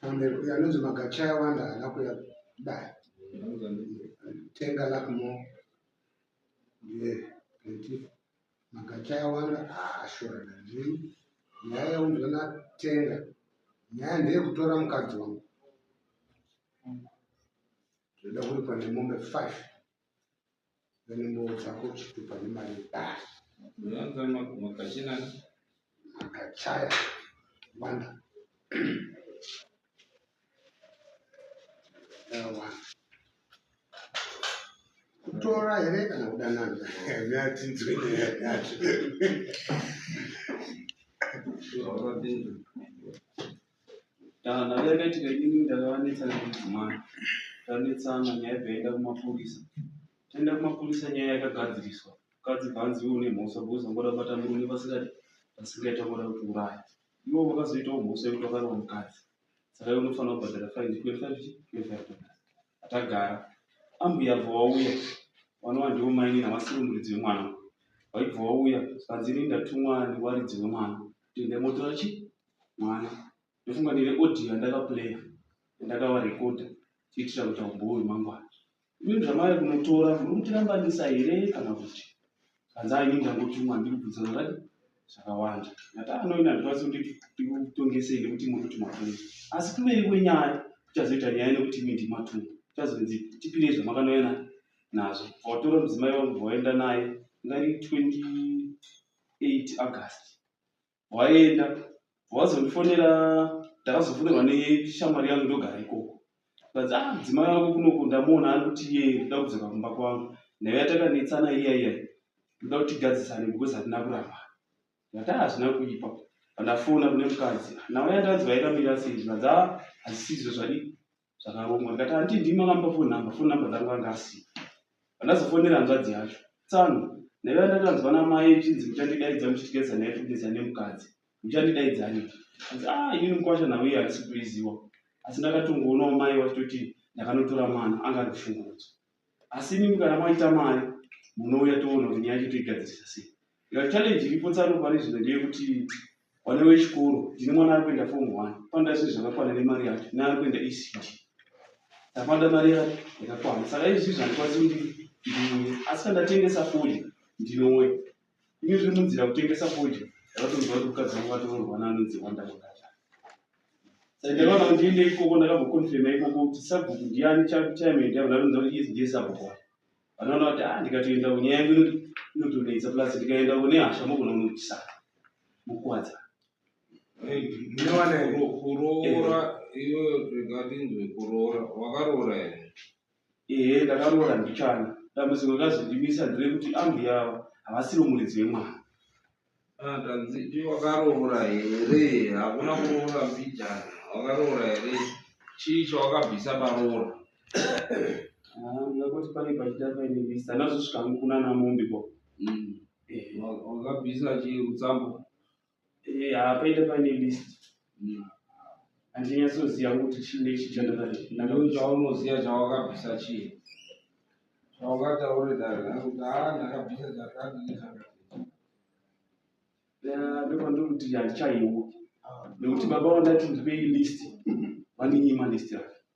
anonzi magacha awanda haana kuya kudai tenga lakmo ndiye kuti magacha awanda haashorana nini nyaya yaunzwa natenga nyaya ndeyekutora mukadzi wangu zvoda kuripwa nemombe five Nzvimbo dzako chitupa nemari yebari. Unowanza makachina. Makachaya. Wanda. Dawa. Kutora here kana kudanana? Nyati nzwini nyati. Zvaurapinda. Nharo yakaitika inini ndakavanetsa nekudzimai tanetsana nyaya ibva yaenda kumapurisa taenda kumapurisa nyaya yakagadziriswa mukadzi bvanzi iwe une mhosva because wangoda kubata murume pasingadi pasingaita wangoda kuti uraya iwo vakazoitawo mhosva yekuti wakarova mukadzi saka iwe unofanira kubhadhara fine 25 atagara ambuya bva wauya vanova ndivo maini navasiri muridzi wemwana vaibva wauya zvanzi ini ndatumwa nevaridzi wemwana kuti ndaimotora chii mwana ndofunga ndine audio yandakaplaya yandakavarekodha tiitira kuita umbowo hwemangwana ini zvamari kunotora muri kutirambanisa here kana kuti kanza ini ndangotumwa ndiri kubvunza zvakati zvakawanda ngati anoina ndikwanisi kuti ndikutongesei nekuti muri kuti matumwa asi kuveri kwenyaya kuchazoita nyaya nekuti imi ndimatumwa kuchazonzi tipirei zvamakanoyana nazvo vatora mudzimai wangu vaenda naye ngari 28 august waenda wazondifonera ndakazofonerwa neshamwari yangu ndogara ikoko kanzi ah mudzimai wako kunoko ndamuona ari kuti iye ndoda kudzoka kumba kwangu nayo yatakanetsana iya iya ndoda kuti tigadzisane because hatina kuramba ndati hazvina ah, kuipa pandafona kune mukadzi nawo yandanzwa yakamira sei zvikanzi ah hazisizvo zvadii zvakarongwa ndikati hanti ndimi makampa phone number phone number dzangu anga asiya pandazofonera hanzvadzi yacho tsano ndaiva ndakanzwa namai ichinzi muchandidaidza muchitigeza naye kugeza nemukadzi muchandidaidzaani anzi a ah, inini mukwasha nhau iye handisi kuiziwa asi ndakatongoonawo mai vachitoti ndakanotora mwana anga ari kushungurudzwa asi imimi kana maita mari munouya toona kuti nyaya yacho toigadzirisa sei ika challenge iripo tsano pane zvino ndeyekuti vana vechikoro ndine mwana ari kuenda form one panoda zvinhu zvakakwana nemari yacho neari kuenda ecd ndapanda mari yacho yakakwana saka izvi zvandikwanisi kuti ndiuye asi kandatengesa fodya ndinouya ini zviri munzira kutengesa fodya ndakatonzwa kuti mukadzi wangu vatoroorwa naanonzi wanda kwakata sai ndakaona kuti ndiende ikoko ndakagokonfirma ikoko kuti sabhuku ndiani chakuchaimende avo ndatonza kuti yes ndiye sabhuku wacho vanoona kuti a ah, ndikatoenda kunyaya yangu inotonetsa plus ndikaenda kune hasha mogona kunotisa mukwadza kuroora iyoyo ndingatinzwe kuroora wakaroora here Ehe ndakaroora mbichana. Dambudziko rakazondimisa nderekuti ambuya ava havasiro muridzi wemwana. Ah, Tanziti wakaroora here? Hakuna kuroora mbijana. Wakaroora here? Chii chawakabvisa paroora? Ah, ndakoti pane pachita paine mista ndazosvika hangu kunana mombe ko. Mm. Ehe. Wa- Wakabvisa chii rutsambo? Eh, hapaita pane list handinyatsoziva kuti chii nechi chandadai chaunoziva chawakabvisa chii chawakataurira kuti ha ah, ndakabvisa chakadii ndopandiri kuti handichaiwo nekuti baba vandati ndipei list vandinyima list yake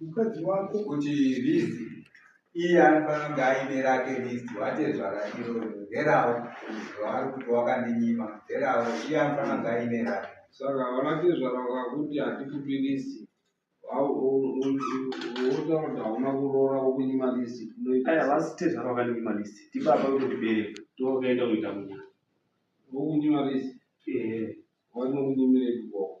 mukadzi wako kuti list iye anofanira kunge aine rake list watezvara iro nderawo zvaari kuti wakandinyima nderawo iye anofanira kunge aine rake saka vanatezvara vakakuti hatikupi list wotakuti hauna kuroora wokunyima list aya vasi tezvara vakandinyima list tibaba vekutibereka tookaenda kuita munya wokunyima list ehe wanokunyimirei kuboko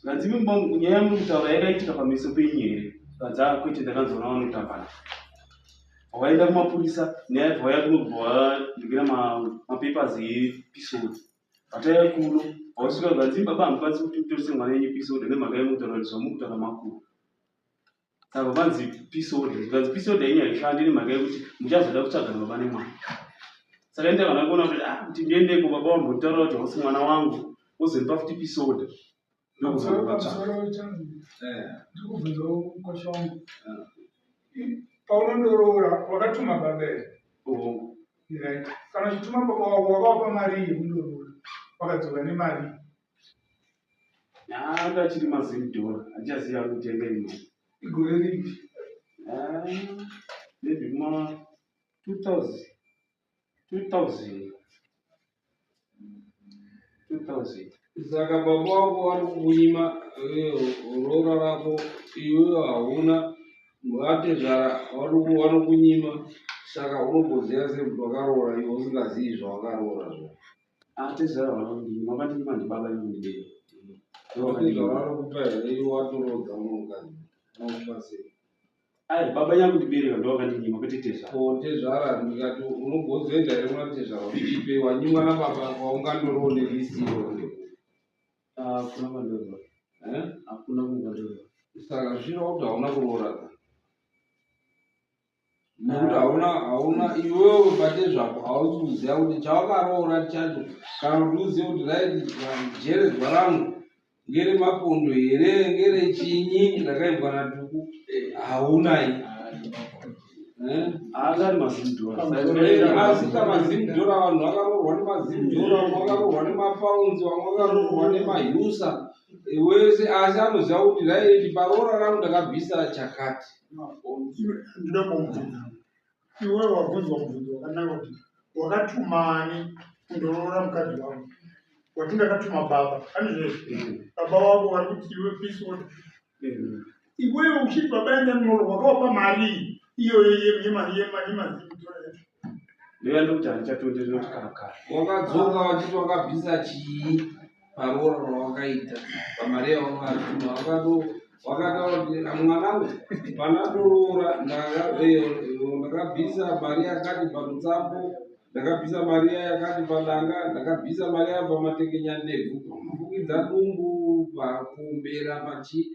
zvanzi imi mumba umu nyaya yamuri kutaura yakaitika pameso penyu here zvanzi a kwete ndakanzwa navanotambana vaenda kumapurisa nyaya yabva vaya kuno kubva vandigira mapapers episode vataiya kuno vausvika zvanzi baba hamukwanisi kuti mutorise mwana yenyu episode nemhaka yemutaura kuti zvamukutaura makuru saka vanzi peace order zvikanzi peace order yenyu haishandi nemhaka yekuti muchazoda kutsvagana baba nemwana saka enda kana kuona kuti ah kuti ndiendeko baba wambotaura kuti hausi mwana wangu wozondipa futi peace order ndokuzondipatsvaandikubvunzawo eh. mukosha wangu eh. paunondoroora wakatuma baba ere right kana uchituma baba wako wakawapa mari yekundoroora wakadzoka nemari Anga achiri mazimdora andichaziva kutenga imwe igore ripi maybe ma 2000 2000 2000 saka baba wako vari kukunyima roora rako iwewo hauna vatezvara vanokunyima saka unogoziva sei kuti wakaroora iwe usingazivi zvawakaroora zvo Ah, tezvara vanondini mama ndini mandi baba inondibei zvavanokupa here watorodza munhukadzi anokupa sei ai baba nyanga kundibereka ndovakandinyima kwete tezvara ko tezvara ndikati unogozoenda here kuna tezvara uipe wanyimwa nababa kwaungandorowo nevisiro hakuna kwandirova hakuna kungandorova saka zvino kuti hauna kuroora ka nekuti hauna hauna iwewe ubate zvako hausi kuziva kuti chawakaroora chacho kana kuti uzive kuti right jeredzwa rangu ngere mapondo here ngere chinyi ndakaibwa na tuku haunai eh? asika mazimdora vanhu vakaroorwa nemazimdora vamwe vakaroorwa nemapaunzi vamwe vakaroorwa nemahusa wese asi anoziva kuti right paroora rangu ndakabvisa chakati ndinoda kumbvunza iwe wabvunzwa mubvunzo wakanaka kuti wakatumani kundoroora mukadzi wako wati ndakatuma baba anizvezvi baba wako vari kuti iwe pisota iwewe uchiti baba enda ndinoroora wakawapa mari iyoyo yemari yemari yemari Ndoya ndokuti handichatonderera kuti kana kare. Wakadzoka wachiti wakabvisa chii paroora rawakaita pamari yawaungatuma wakado wakataura kuti mwanangu pana ndoroora ndakabvisa mari yakati panotsambo ndakabvisa mari iya yakati padanga ndakabvisa mari iya pamatekenya ndebvu pamafukidza dumbu pakumbera pachii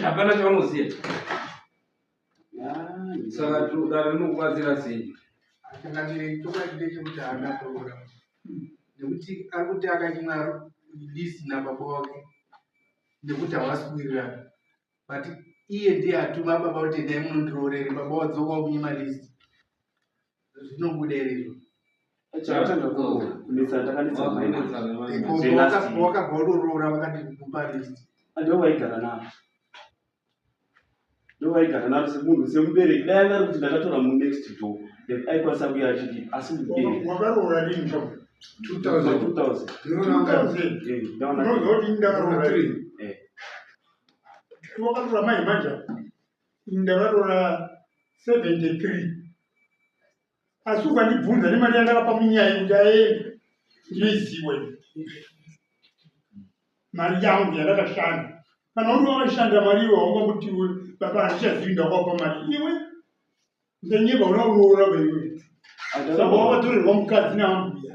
hapana chavanoziva saka dare rinokubatsira sei changamire chokwadi ndechekuti haana kuroora nekuti ari kuti akanyimwa list nababa wake nekuti havasi kuwirirana but iye ndiye atuma baba kuti endai munondiroorere baba wadzoka wakunyima list zvinobuda iri izvo wakabva watoroora vakati kupa list ndovaigara naro semunhu semubereki dai anga ari kuti ndakatora munext door then aikwanisa kuya achidii asi muberekwakaroora rini ka 2000ndakaroora mai manja ndakaroora 73 asi ukandibvunza nemari yandakapa munyaya kuti aende ndinoiziwa mari yangu yandakashanda kana uri wakashanda mari iwe waunga kuti iwe baba handichazivi ndakwapa mari iwe ndanyeba una uroora vaiwe saka wakatorerwa mukadzi naambuya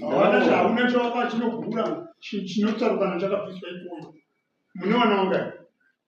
hawana chahauna chawaka chinogura chinotsarukana chakabviswa ikoyo mune wana wangai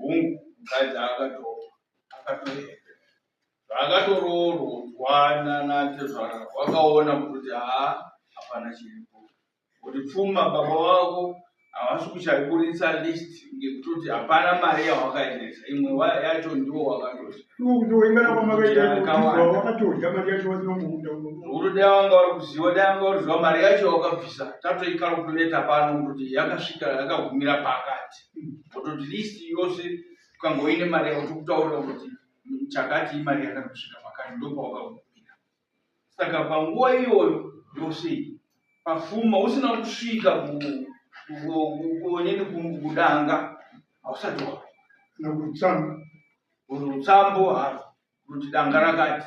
Hungu mukadzi akatoroorwa. Zvaakatoroorwa nanatezvara wakaona kuti haa hapana chiripo. Kuti pfuma baba wako havasi kuchaiburitsa list ngekutoti hapana mari yawakaendesa imwe yacho ndiwo wakatozvekuti dai wanga uri kuziva dai wanga uriziva mari yacho wakabvisa tatoikalkutoneta pano kutoti yakasvika yakagumira pakati kutoti list yose ukangoine mari yako tikutaurira kuti chakati imari yakati kusvika pakati ndopawakagumira saka panguva iyoyo yose pafuma usina kusvika kuonene kudanga hausati wava nokutsamba utsambo haro kuti danga rakati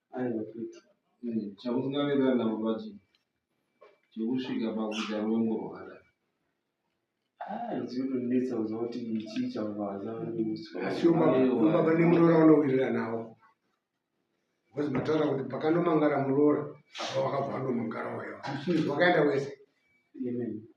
aiwa tete eh, chamusingaverera navo vachi chekusvika pakuita rwengo rwakadai zvinotondinetsa kuziva kuti chii chavaazaaasiobaba nemurora vanowirira nawo bcause mataura kuti pakanomangara murora apa wakabva andomangara wayo vakaenda wese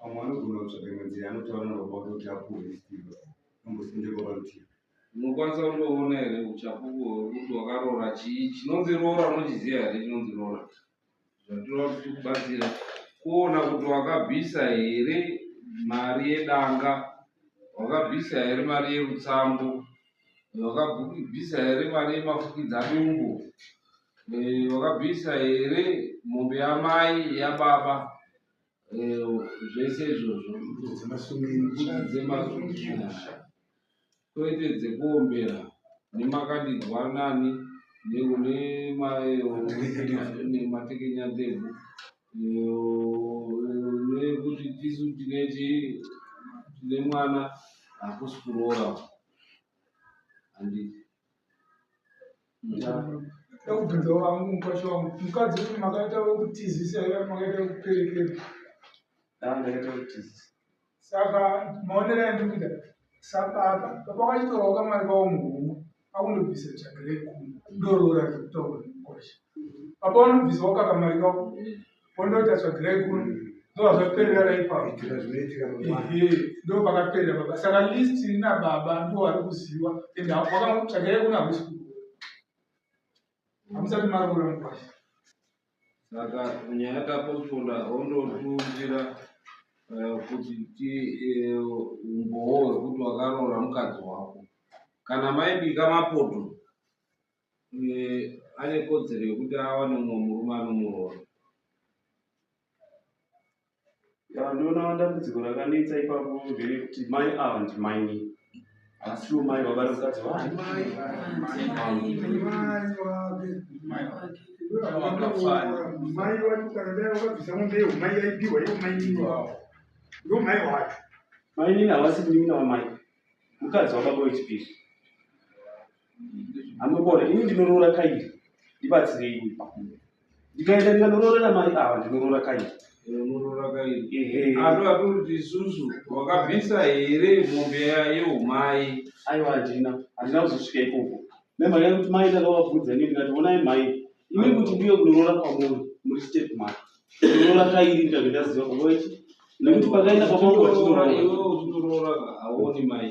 pamwe anogona kutsvaga imwe nzira anotaura nababa wake kuti apuhwe zvitirwa ambosindeko parutivi unokwanisa kundoona here uchapupu hwekuti wakaroora chii chinonzi roora unochiziva here chinonzi roora zvatinoda kuti tikubatsira kuona kuti wakabvisa here mari yedanga wakabvisa here mari yerutsambo wakabvisa here mari yemafukidza dumbu wakabvisa here mombe yamai yababa Eh, zvese izvozvo dzemasungira kwete dzekuombera nemakandidzwa nani nematekenya ndebvu nekuti tisu tine tine mwana hakusi kuroora handiti ekubvunzawo vangu mukwasha wangu mukadzi kuti makaita wekutizisa here makaita wekuperekera saka maonera andikuita sababa baba wachitorawo kamari kawo muhomwe akundobvisa tsvaga rekuma ndoroora rekutaura mukwasha baba unobvisawo kakamari kawo wondoita tsvagirai kuno ndozvazvaperera ipapo ndo pakaperera baba saka list ina baba ndo vari kuziva and wakatsvagirai kuno hakusi hamusati maroora mukwasha saka nyaya taposponda hondotiundira eh, kuti ti eh, umbowo hwekuti wakaroora mukadzi wako kana maibika mapoto ane kodzero yekuti awane mumwe murume anomuroora ndoona dambudziko rakanetsa ipapo nderekuti mai ava ndimaini asiwo mai baba remukadzi wamai wacho kana dai wakabvisa mombe yeumai yaipiwa iwo mainini wavo ndo mai wacho mainini havasi munin'ina wamai mukadzi wababa wechipiri Anokona, ini ndinoroora kairi, ndibatsirei ndikaenda ndikandoroorera mari ava ndinoroora kairi ando atoti isusu wakabvisa here mombe yeumai aiwa handina handina kuzosvika ikoko nemhanya yekuti mai ndakavabvunza ini ndikati onai mai imi kuti ndiyo kunoroora kwamuri muri step mari kunoroora kairi ndikabve ndaziva kuvaiti nekuti pakaenda pamauatinoroora iwe uzinoroora aoni mai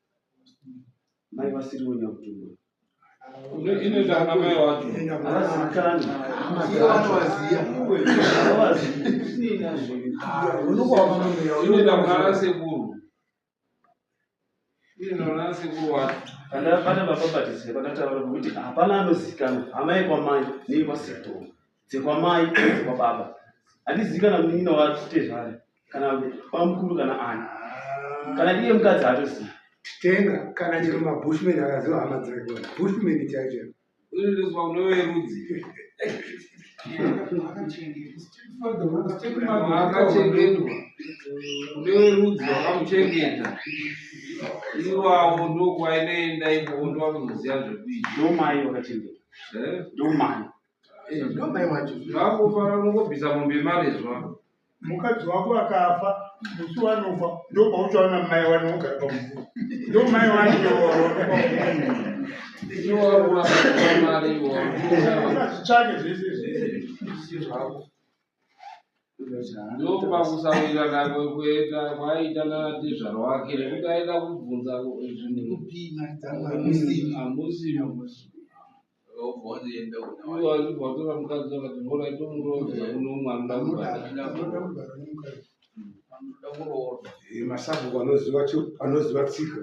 mai vasiriwo nyakutumba inoita ana mai wacho avazikani inoita kunana sekuru inoona sekuru wacho pandabata baba batise pandataura kuti hapana anozikanwa amai kwamai nei kwasekuru dzekwamai dzekwababa handizivi kana munin'ina watezvani kana bamukuru kana ani kana iye mukadzi haatozivi titenga kana chero mabushmen akaziva hama dzakona bushmen chaicho unoizwa unove rudzi akachengetwa uneve rudzi wakamuchengeta iwawo ndokwainoenda ikowo ndovakunoziva zvekuita ndomai wakachengeta eh? ndomai Eh, ndomai wacho zvakufara kungobvisa mombe marizwa mukadzi wako akafa musi wanofa ndopauchaona mai wani wogara pamufu ndo mai wani iwoazvitsvake zvese ndopakusawira nako kuenda kwaita natezvaro wake nekuti aida kubvunza zvinhu amusi wazvivatora mukadzi akati mvura itomuroza uno mwana masabhuku anoziva anoziva tsika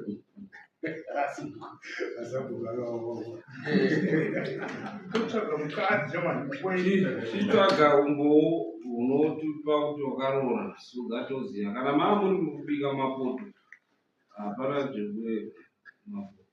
masabhuku akaoaotsvaga mukadzi chitsvaga umbowo unotipa kuti wakaroora sugatoziva kana maa muri mukubika mapoto hapana zvekue mapoto